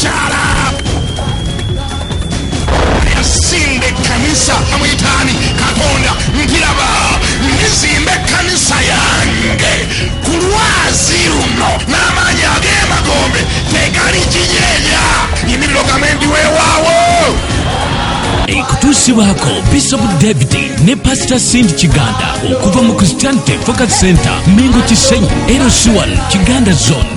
kyala yasimba ekkanisa amuyitaani katonda nkiraba ndizimba ekkanisa yange ku lwazi luno n'amaanyi ag'emagombe tegali kinyeenya yimirira ogambe ndi weewaawo ekutuusibwako bishop david ne pasita sindi kiganda okuva mu christianity focus center mengo kisenyi erosiwan kiganda zone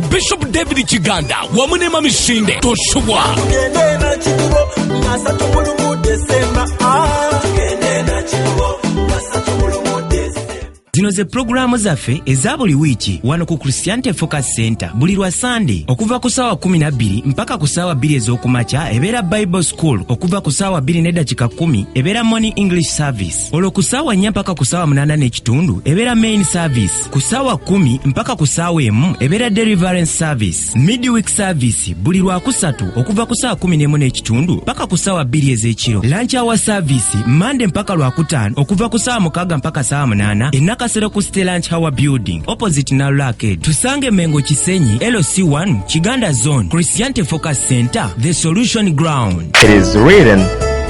bishop david kiganda wamu ne mamisinde tosubwa zino ze pulogulaamu zaffe eza buli wiiki wano ku christianity focus center buli lwa sande okuva ku saawa 12 mpaka ku saawa 2 ez'okumakya ebeera bible school okuva ku saawa 2 nedakika 1 ebeera morning english service olwo ku ssaawa nnya mpaka ku ssaawa munaana n'ekitundu ebeera main service ku ssaawa kumi mpaka ku ssaawa emu ebeera deliverance service midweek service buli lwakusatu okuva ku ssaawa kumi n'emu n'ekitundu mpaka ku ssaawa bbiri ez'ekiro lanch hour service mande mpaka lwakutaano okuva ku ssaawa mukaaga mpaka ssaawa munaana enakasero ku ste lanch hour building opposite nalula arcade tusange mengo kisenyi lc1 kiganda zone christiante focus center the solution ground It is written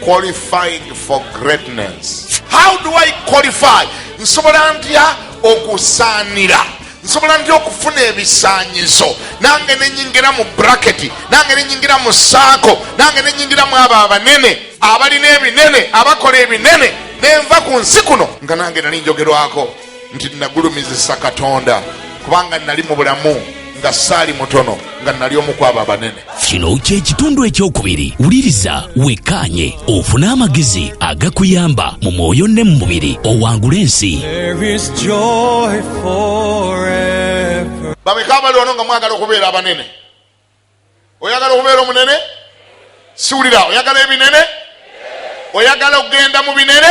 qualified for greatness how do i qualify nsobola ntya okusaanira nsobola ntya okufuna ebisaanyizo nange nenyingira mu braketi nange nenyingira mu saako nange nenyingira mu abo abanene abalina ebinene abakola ebinene nenva ku nsi kuno nga nange nali njogerwako nti nagulumizisa katonda kubanga nali mu bulamu nga saali mutono nga nali omu kwabo abanene kino kyekitundu ekyokubiri wuliriza wekkaanye ofune amagezi agakuyamba mu mwoyo ne mu mubiri owangula ensi bameka abali wano nga mwagala okubeera abanene oyagala okubeera omunene siwulira oyagala ebinene oyagala okugenda mu binene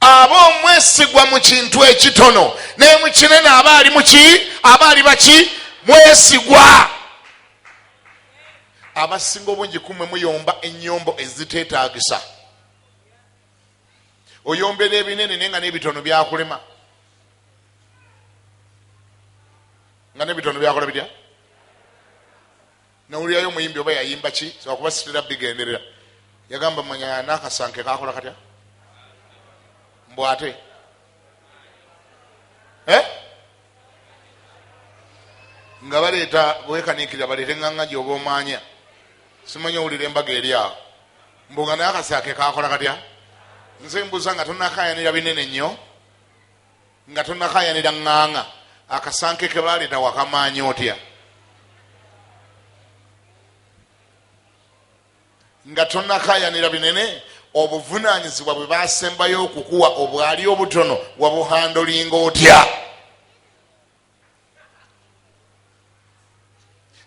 aba omwesigwa mu kintu ekitono naye mu kinene aba ali muki aba ali baki mwesigwa abasinga obungi kumwe muyomba enyombo ezitetagisa oyombera ebinene naye nga nebitono byakulema nga nebitono byakola bitya nawulirayo omuyimbi oba yayimba ki zakuba sitera bigenderera yagamba manya nakasanke kakola katya mbu ate eh? nga baleeta bwekanikira baleete nganga gyoba omanya simanyi owulira embaga eri awo mbu nga nakasanke kakola katya nze mbuza nga tonakayanira binene nnyo Nga tonakayanira nganga akasanke kebaleta wakamaanya otya nga tonakayanira binene obuvunanyizibwa bwe basembayo okukuwa obwali obutono wabuhandolinga otya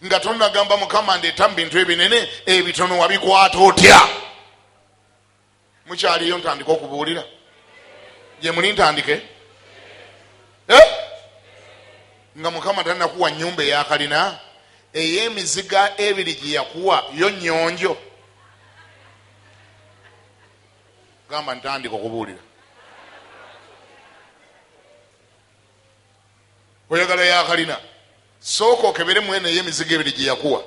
nga tonagamba mukama ndeeta mu bintu ebinene ebitono wabikwata otya mukyaliyo ntandike okubuulira gyemuli ntandike eh? nga mukama tanakuwa nyumba eyakalina eyemiziga ebiri gyeyakuwa yo nyonjo gamba ntandika okubuulira oyagala yakalina sooka okebere mwene eyemiziga ebiri gyeyakuwa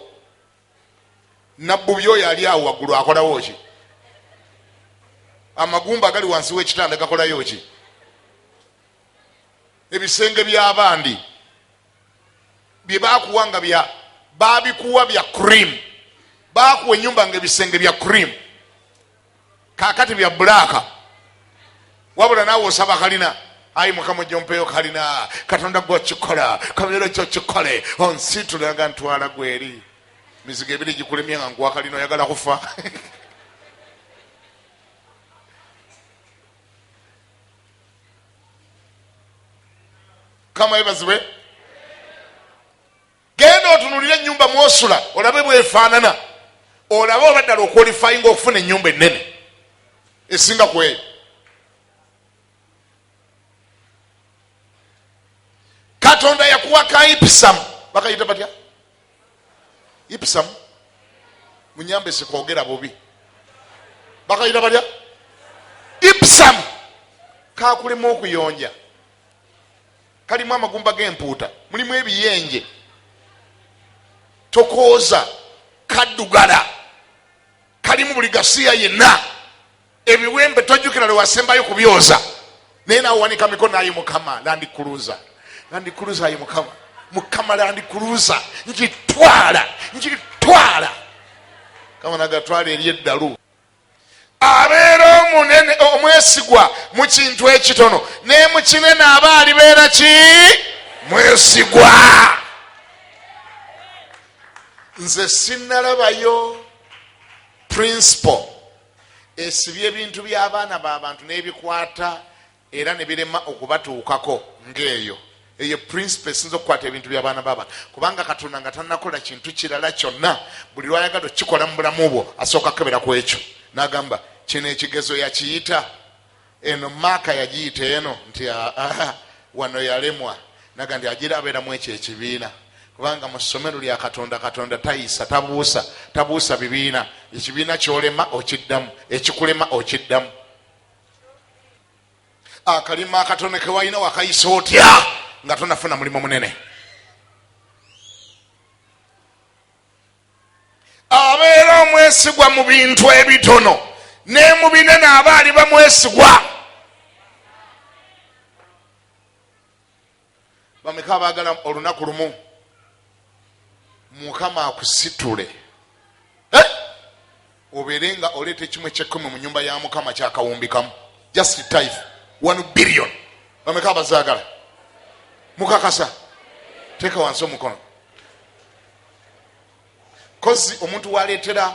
nabbubi oyo ali awo waggulu akolawo ki amagumba agali wansi w'ekitanda gakolayo ki ebisenge by'abandi bye bakuwa nga bya babikuwa bya cream bakuwa enyumba nga ebisenge bya cream kakati bya bulaaka wabula naawe osaba kalina ayi mukama ojja ompeeyo kalina katonda gwe okikola kabeero ki okikole onsitula nga ntwala gweri mizigo ebiri gikulemye nga nkuwa kalina oyagala kufa kama ebazibwe Genda otunulire enyumba mwosula olabe bwefaanana, olabe oba ddala okwolifayinga okufuna enyumba ennene esinga ku eyo. Katonda yakuwa ka ipisamu, bakayita batya? Ipisamu munyambe sikogera bubi, bakayita batya? Ipisamu kakulema okuyonja kalimu amagumba g'empuuta mulimu ebiyenje tokooza kaddugala kalimu buli gasiya yenna ebiwembe tojjukira lwe wasembayo kubyoza naye nawe wanika mikono ayi mukama landikuluza landikuluza ayi mukama mukama landikuluza ngitwala ngitwala kama nagatwala eri eddalu abeera omunene omwesigwa mu kintu ekitono naye mu kinene aba alibeera ki mwesigwa nze sinalabayo principal esibye ebintu by'abaana b'abantu n'ebikwata era ne birema okubatuukako ng'eyo. Eyo ye pulinsipo esinza okukwata ebintu by'abaana b'abantu, kubanga Katonda nga tannakola kintu kirala kyonna, buli lw'ayagala okukikola mu bulamu bwo asooka kukebera ku ekyo n'agamba, Kino ekigezo yakiyita eno, maaka yagiyita eno, nti aa wano yalemwa naga nti agira abeera mu ekyo ekibiina kubanga mu ssomero lya katonda katonda tayisa tabuusa tabuusa bibiina ekibiina kyolema okiddamu ekikulema okiddamu akalima akatono kewalina wakayisa otya nga tonafuna mulimu munene abeera omwesigwa mu bintu ebitono ne mu binene aba ali bamwesigwa bameka abagala olunaku lumu mukama akusitule eh? obeere nga oleeta ekimu ekyekumi mu nyumba ya mukama kyakawumbikamu just type one billion bameka abazagala mukakasa teeka wansi omukono kozi omuntu waleetera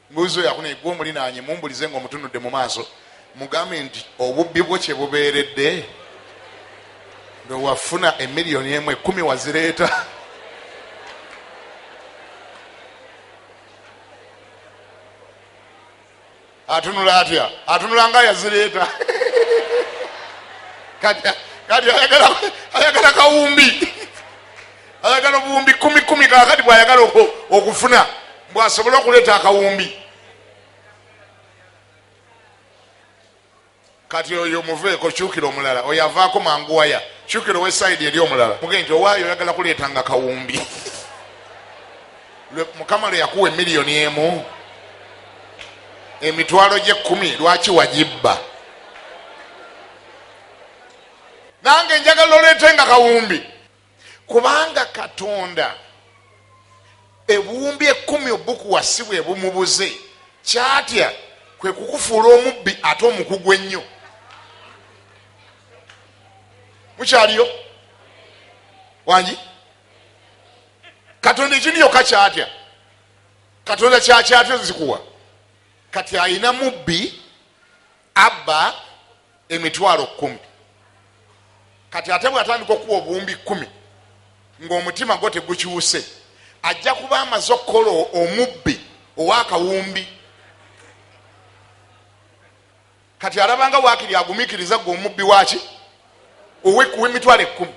Mbuuza oyo akunaye gwe omulinaanye mumbulize nga omutunudde mu maaso mugambe nti obubbi bwo kye bubeeredde lwe wafuna emiliyoni emu ekkumi wazireeta atunula atya atunula nga yazireeta kati ayagala kawumbi ayagala obuwumbi kumi kumi kakati bwayagala okufuna bwasobole okuleeta akawumbi kati oyo muveeko kyukira omulala oyo avaako mangu waya kyukira owesaidi eri omulala muge nti owaayo oyagala kuleeta nga kawumbi mukama lwe yakuwa emiliyoni emu emitwalo gyekumi lwaki wagibba nange njagala oleete nga kawumbi kubanga katonda ebuwumbi ekumi obukuwasibwa ebumubuze kyatya kwe kukufuula omubbi ate omukugu ennyo mukyaliyo wangi katonda ekindi yoka kyatya katonda kyakyatya zikuwa kati ayina mubbi abba emitwalo kumi kati ate bwatandika okuwa obuwumbi kumi ng'omutima gwo tegukyuse ajja kuba amaze okukola omubbi owakawumbi kati alabanga wakiri agumikiriza gwe omubbi waki owekuwa emitwalo ekkumi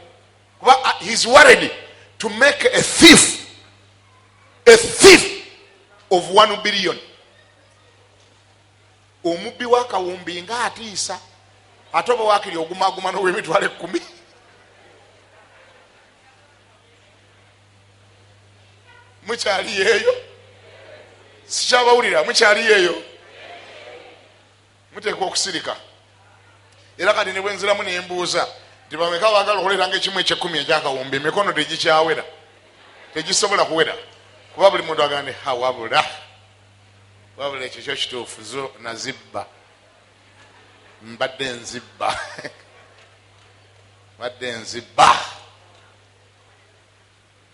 kuba uh, his worried to make a thief a thief of one billion omubbi wakawumbi nga atiisa ate oba wakiri ogumaguma nowemitwalo ekumi mukyali yeeyo sikyabawulira mukyali yeeyo muteekwa okusirika era kati nebwenziramu nembuuza nti bameka bagala okuleeranga ekimu ekyekumi ekyakawumbi emikono tegikyawera tegisobola kuwera kuba buli muntu agande hawabula wabula ekyo kyo kituufu zo nazibba mbadde nzibba mbadde nzibba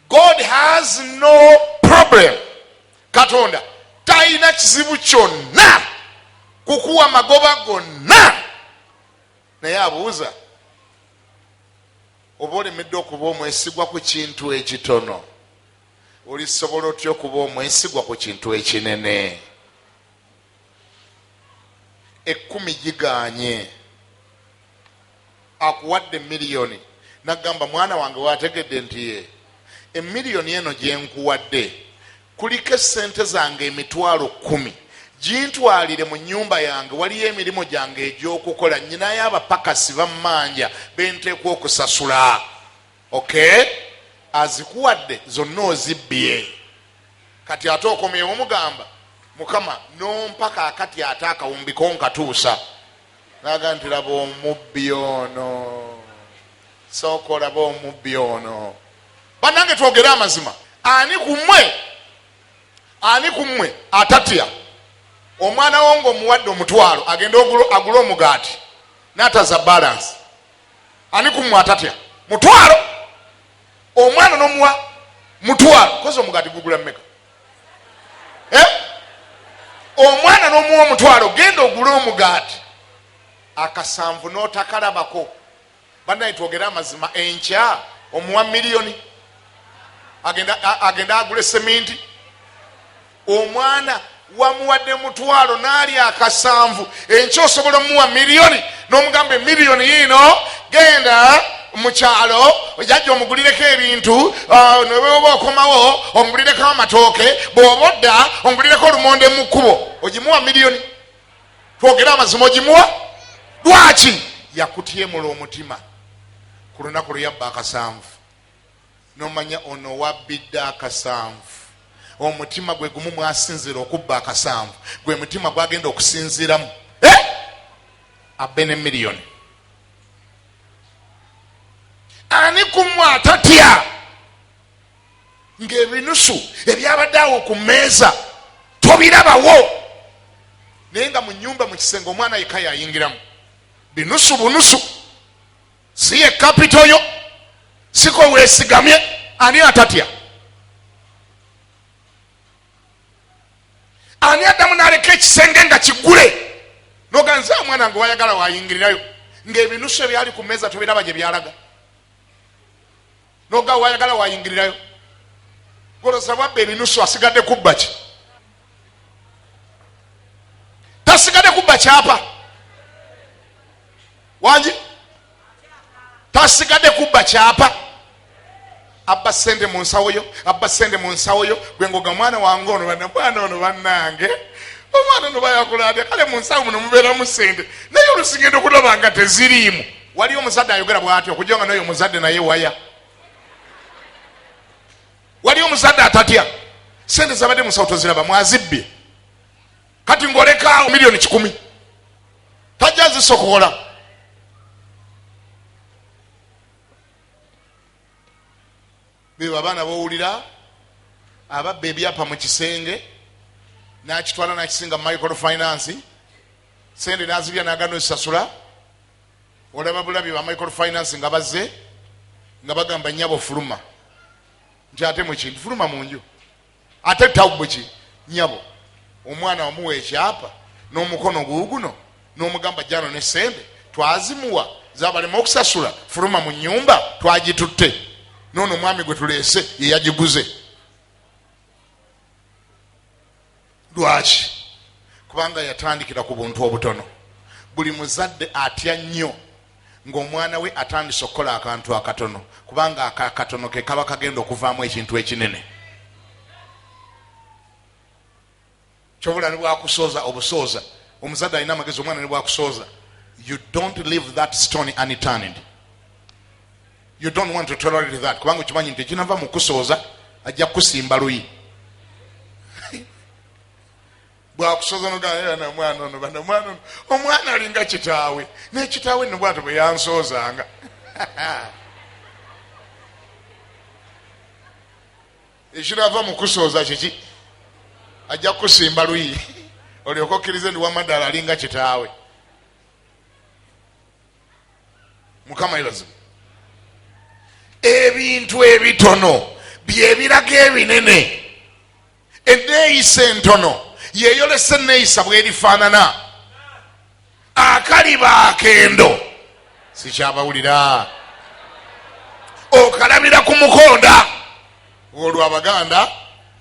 god has no problem katonda talina kizibu kyonna kukuwa magoba gonna naye abuuza oba olemedde okuba omwesigwa ku kintu ekitono Olisobola otya okuba omwesigwa ku kintu ekinene? Ekkumi giganye, akuwadde miliyoni nagamba mwana wange wategedde nti ye emiliyoni eno gyenkuwadde kuliko esente zange emitwalo kumi gintwalire mu nyumba yange waliyo emirimu gyange egyokukola nyinayo abapakasi bammanja benteekwa okusasula ok azikuwadde zonna ozibbye kati ate okomyewo mugamba mukama nompa kakati ate akawumbi konkatuusa naga nti laba omubbi ono sooka olaba omubbi ono banange twogere amazima ani kumwe ani kumwe atatya omwana wo ngaomuwadde omutwalo agende agule omugaati nataza balansi ani kumwe atatya mutwalo omwana nomuwa mutwalo kozi omugati gugula meka eh? omwana nomuwa omutwalo genda ogule omugaati akasanvu notakalabako banaye twogere amazima enkya omuwa miliyoni agenda agule seminti omwana wamuwadde mutwalo naalya akasanvu enkya osobola omuwa miliyoni n'omugamba emiliyoni yiino genda mukyalo jajja omugulireko ebintu uh, nebwoba okomawo omugulireko amatooke bwoba odda omugulireko olumonde mu kkubo ogimuwa miliyoni twogere amazima ogimuwa lwaki yakutyemula omutima ku lunaku lweyabba akasanvu nomanya ono owabidde akasanvu omutima gwe gumu mwasinzira okubba akasanvu gwe mutima gwagenda okusinziramu eh! abbe ne miliyoni ani kumu atatya ngaebinusu ebyabadde awo ku meeza tobirabawo naye nga mu nyumba mu kisenge omwana yeka yayingiramu binusu bunusu si ye kapito yo siko wesigamye ani atatya ani addamu naleka ekisenge nga kigule noganze omwana nge wayagala wayingirirayo ngaebinusu ebyali ku meeza tobiraba gye byalaga noga wayagala wayingirirayo goloza bwabba ebinusu asigadde kubba ki tasigadde kubba kyapa wangi tasigadde kubba kyapa abba sente mu nsawo yo abba sente mu nsawo yo gwe ngoga omwana wange ono bana mwana ono bannange omwana ono bayakulabya kale mu nsawo muno mubeeramu sente naye olusigenda okulaba nga teziriimu waliyo omuzadde ayogera bwati okujja nga noyo omuzadde naye waya waliyo omuzadde atatya sente zabadde musawo toziraba mwazibbye kati ngolekaawo miliyoni kikumi tajja zisokola bebo abaana bowulira ababba ebyapa mu kisenge nakitwala nakisinga micro finance sente nazibya nagana osasula olaba bulabi ba micro finance nga bazze nga bagamba nyabo fuluma nti ate mukintu fuluma munju ate tawbu ki nyabo omwana wamuwa ekyapa n'omukono guuguno n'omugamba jano ne sente twazimuwa zabalema okusasula fuluma mu nyumba twagitutte noono omwami gwe tuleese yeyagiguze lwaki kubanga yatandikira ku buntu obutono buli muzadde atya nnyo ng'omwana we atandise okukola akantu akatono kubanga ako akatono ke kaba kagenda okuvaamu ekintu ekinene kyobula ne bwakusooza obusooza omuzadde alina amagezi omwana ne bwakusooza you don't leave that stone unturned you don't want to tolerate that kubanga okimanyi nti ekinava mu kusooza ajja kukusimba luyi bwakusozanogana era namwana ono banamwana ono omwana alinga kitaawe nekitaawe nno bwato bwe yansoozanga ekirava mu kusooza kiki ajja kukusimba luyi olyoka okkirize ndi wamaddala alinga kitaawe mukama yebazibu ebintu ebitono byebiraga ebinene enneeyisa entono yeeyolesa enneeyisa bwerifaanana akaliba akendo sikyabawulira okalabira ku mukonda olwo abaganda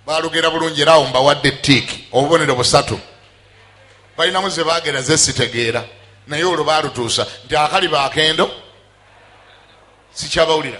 balugera bulungi era awo mbawadde tiiki obubonero busatu balinamu ze bagera ze sitegeera naye olwo balutuusa nti akaliba akendo sikyabawulira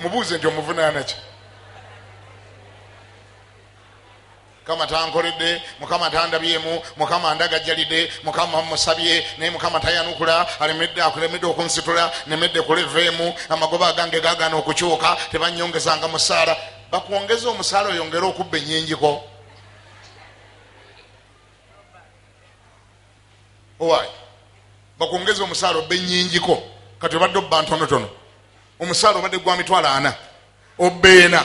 mubuuze nti omuvunaana ki mukama tankoledde mukama tandabyemu mukama ndagajjalidde mukama musabye naye mukama tayanukula alemedde akulemedde okunsitula nemedde kuleveemu amagoba agange gagana okukyuka tebanyongezanga musaala bakwongeza omusaala oyongere okubba enyingiko owaye bakwongeza omusaala obbe nyingiko kati obadde obba ntonotono omusaala obadde gwa mitwalo ana obbeena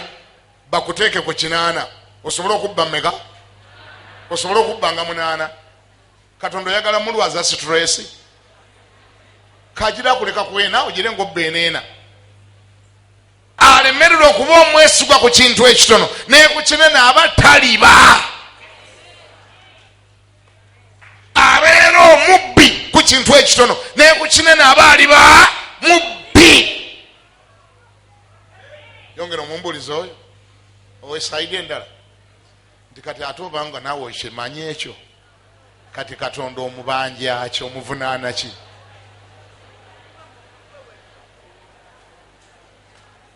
bakuteeke ku kinaana osobole okubba meka osobole okubba nga munaana katonda oyagala mulwaza situlesi kagira kuleka kwena ogire ngaobbeeneena alemerera okuba omwesigwa ku kintu ekitono naye ku kinene aba taliba abeera omubbi ku kintu ekitono naye ku kinene aba aliba mubbi yongera omumbuliza oyo owesaide endala nti kati ate obanga naawe okimanyi ekyo kati katonda omubanjaki omuvunaana ki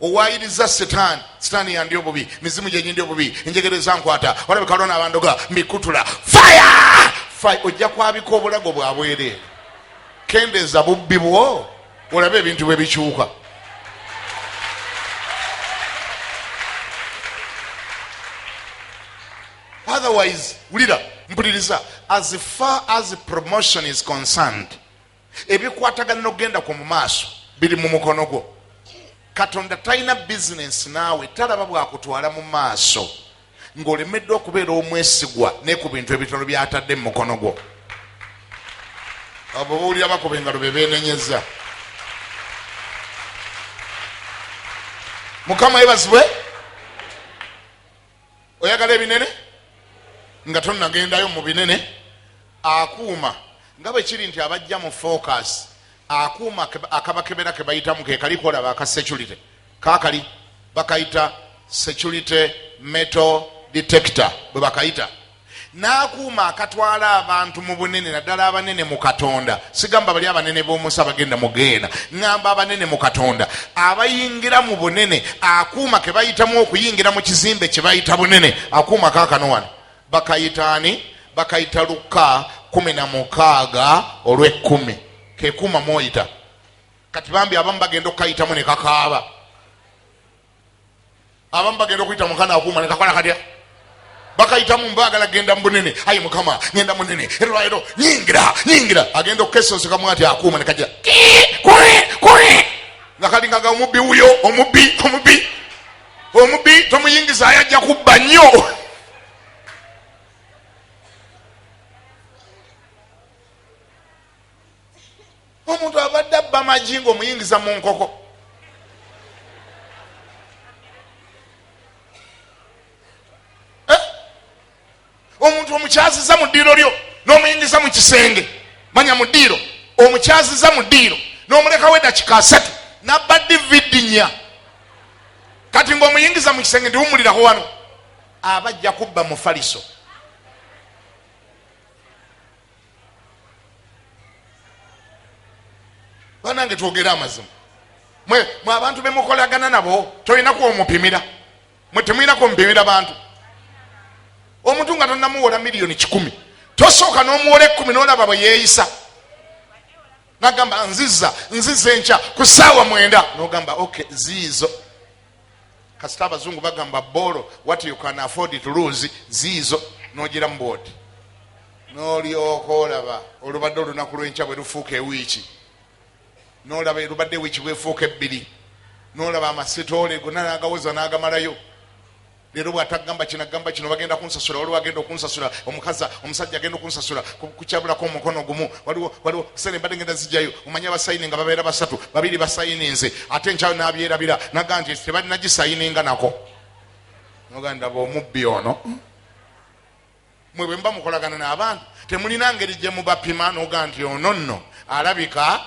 owaayiriza setaani setaani yandi obubi mizimu gyenyindi obubi enjegere ezankwata olabika lona abandoga mbikutula faya faya ojja kwabika obulago bwabwereere kendeeza bubbi bwo olabe ebintu bwe bikyuka otherwise wulira mpuliriza as far as promotion is concerned ebikwatagana nokugenda kwo mu maaso biri mu mukono gwo katonda talina bizinensi naawe talaba bwakutwala mu maaso ng'olemeddwa okubeera omwesigwa ne ku bintu ebitono byatadde mu mukono gwo abo bawulira bakuba engalo be beenenyeza mukama yebazibwe oyagala ebinene nga tonagendayo mu binene akuuma nga bwe kiri nti abajja mu focus akuuma akabakebera ke bayitamu ke kali kolaba aka security kakali bakayita security metal detector bwe bakayita n'akuuma akatwala abantu mu bunene naddala abanene mu katonda sigamba bali abanene b'omusi abagenda mu geena ŋŋamba abanene mu katonda abayingira mu bunene akuuma ke bayitamu okuyingira mu kizimbe kye bayita bunene akuuma kaakano wano bakayitaani bakayita lukka kumi na mukaaga olw'ekkumi kekuuma mwoyita kati bambi abamu bagenda okukayitamu ne kakaaba abamu bagenda okuyita mukana akuuma nekakola katya bakayitamu mbagala genda mubunene ayi mukama ngenda munene erwaliro nyingira nyingira agenda okukesosekamu ati akuuma nekaja nga kalingaga omubbi wuyo omubbi omubbi omubbi tomuyingiza ayajja kubba nnyo omuntu abadde abba magi nga omuyingiza mu nkoko eh? omuntu omukyaziza mu ddiiro lyo n'omuyingiza mu kisenge manya mu ddiiro omukyaziza mu ddiiro n'omulekawo edakika asatu nabba dividi nya kati ngaomuyingiza mu kisenge ndiwumuliraho wano aba ajja kubba mufaliso banange twogere amazima mwe mwe abantu bemukolagana nabo tolina kwomupimira mwe temulina kwomupimira bantu omuntu nga tonamuwola miliyoni kikumi tosooka nomuwola ekumi nolaba bwe yeeyisa nagamba nziza nziza enkya ku saawa mwenda nogamba ok ziizo kasita abazungu bagamba bolo wat you can afford to lose ziizo nogira mu boodi nolyoka olaba olubadde olunaku lwenkya bwe lufuuka ewiiki nolaba elubadde ewiiki bwefuuka ebbiri nolaba amasitoole gona nagawoza nagamalayo leero bwatagamba kinagamba kino bagenda kunsasula waliwo agenda okunsasula omukaza omusajja agenda okunsasula kukyabulako omukono gumu waliwo waliwo sene mbadde ngenda zijayo omanya basayininga babeera basatu babiri basayininze ate nkyayo nabyerabira naga nti tebalina gisayininga nako nogandaba omubbi ono mwe bwemuba mukolagana n'abantu temulina ngeri gye mubapima noga nti ono nno alabika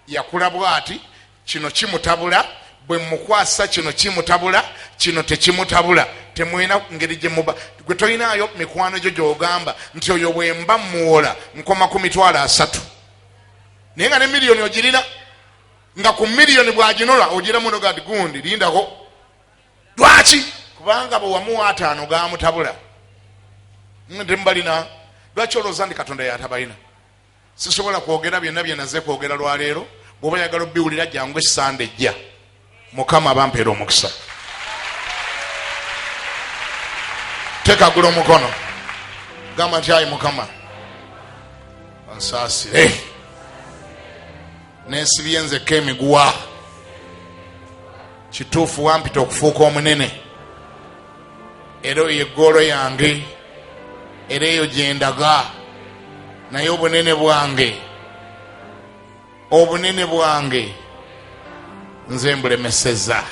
yakula bwati kino kimutabula bwe mukwasa kino kimutabula kino tekimutabula temulina ngeri gye muba gwe tolinaayo mikwano gyo gyogamba nti oyo bwemba muwola nkoma ku mitwalo asatu naye nga ne miliyoni ogirina nga ku miliyoni bwaginola ogiramu noga ti gundi lindako lwaki kubanga bwewamuwa ataano gamutabula temubalina lwaki olowooza nti katonda yatabalina sisobola kwogera byonna byenaze kwogera lwaleero bwoba yagala obiwulira jangu esande ejja mukama bampeera omukisa tekagula omukono gamba nti ayi mukama onsaasire nesibye nzekka emiguwa kituufu wampita okufuuka omunene era oyo eggoolo yange era eyo gyendaga naye obunene bwange obunene bwange nze mbulemeseza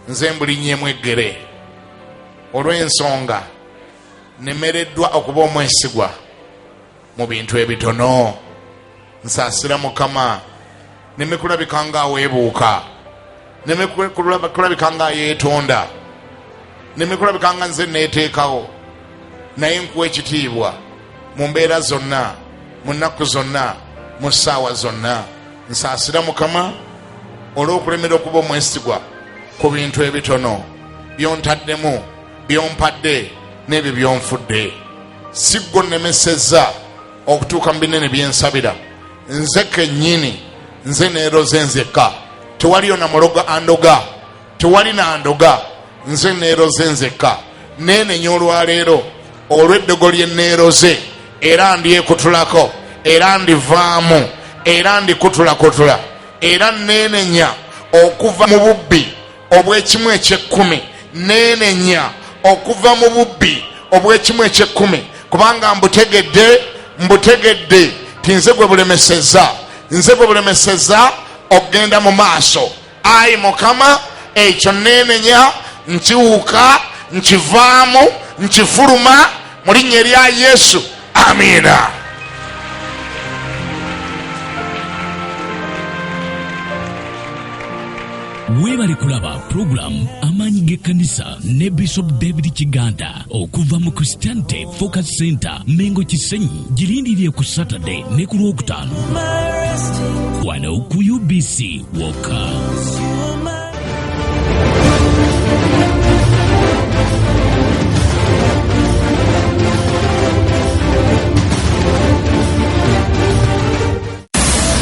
nze mbulinyemu eggere olw'ensonga nemereddwa okuba omwesigwa mu bintu ebitono nsaasira mukama neme kulabika nga aweebuuka neme kulabika nga ayeetonda neme kulabika nga nze neeteekawo naye nkuwa ekitiibwa mu mbeera zonna mu nnaku zonna mu ssaawa zonna nsaasira mukama olw'okulemera okuba omwesigwa ku bintu ebitono byontaddemu byompadde n'ebyo byonfudde si gwe onnemesezza okutuuka mu binene byensabira nze kennyini nze neeroze nzekka tewaliyo na muloga andoga tewali nandoga nze neeroze nzekka neenenya olwaleero olw'eddogo lye neeroze era ndyekutulako era ndivaamu era ndikutulakutula era neenenya okuva mu bubbi obw'ekimu eky'ekkumi neenenya okuva mu bubbi obw'ekimu eky'ekkumi kubanga mbutegedde mbutegedde ti nze gwe bulemeseza nze gwe bulemeseza okugenda mu maaso ayi mukama ekyo neenenya nkiwuka nkivaamu nkifuluma mu linnya erya yesu amiina weebale kulaba pulogulaamu amaanyi g'ekkanisa ne bishop david kiganda okuva mu christianity focus center mengo kisenyi girindirire ku saturday ne ku lwokutaano wano ku ubc wokka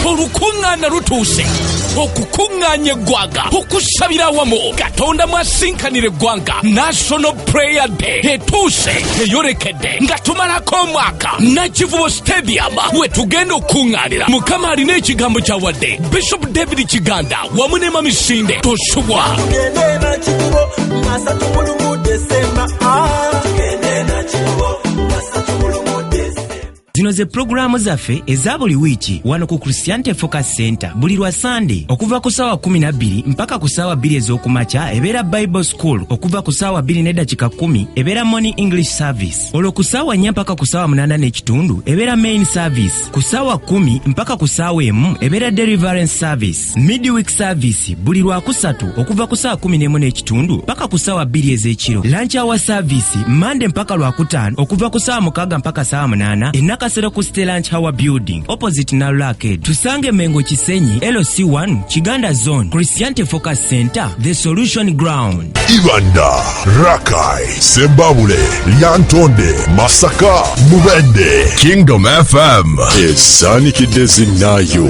olukuŋŋaana lutuuse okukuŋŋaanya eggwanga okusabira awamu katonda mwasinkanira eggwanga national prayer day etuuse eyolekedde nga tumalako omwaka nakivubo stadium we tugenda okukuŋŋaanira mukama alina ekigambo kyawadde bishop david kiganda wamu ne mamisinde tosubwa zino ze pulogulaamu zaffe eza buli wiiki wano ku christianity focus center buli lwa sande okuva ku saawa 12 mpaka ku saawa 2 ez'okumakya ebeera bible school okuva ku saawa 2 n'eddakika 1 ebeera morning english service olwo ku ssaawa nnya mpaka ku ssaawa munaana n'ekitundu ebeera main service ku ssaawa kumi mpaka ku ssaawa emu ebeera deliverance service midweek service buli lwakusatu okuva ku ssaawa kumi n'emu n'ekitundu mpaka ku ssaawa bbiri ez'ekiro lanch hour service mande mpaka lwakutaano okuva ku ssaawa mukaaga mpaka ssaawa munaana enakasero ku ste lanch hour building opposite nalula arcade tusange mengo kisenyi loc 1 kiganda zone christiante focus center The Solution Ground. Ibanda, Rakai, Sembabule, Lyantonde, Masaka, Mubende, Kingdom FM. Esanikidezi nayo.